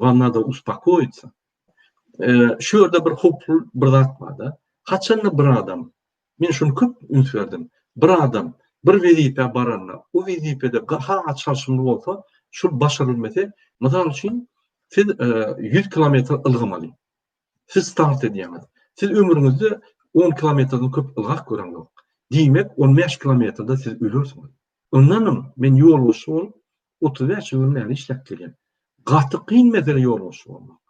Wam nado uspokoýitsa. Şu ýerde bir howply bir zat barda. Haçanda bir adam, men şuny köp üns berdim. Bir adam bir wezipä baranda, o wezipede ha-ha çalşymly bolsa, şul başarylmese, mysal üçin, siz ýüz kilometr ylgamaly. Siz start edýäňiz. Siz ömrüňizde on kilometrden köp ylgap göreňok. Diýmek, on bäş kilometrde siz ölersiňiz. Ondanam men ýolbaşçy bolup, Otuz bäş ýyl näme işläp gelýän? Gaty kyn mesele ýolbaşçy bolmak.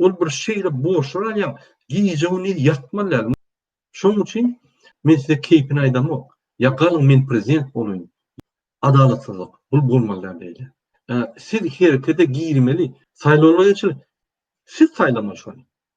Ol bir şeýle borçlar alýaň, gije-gündiz ýatman däl. Şonuň üçin men size keýpini aýdamok. Ýa galyň men prezident bolaýyn. Adalatsyzlyk. Bu bolmaly däl beýle. Siz herekete girmeli. Saýlawlar geçirildi. Siz saýlamaly şony.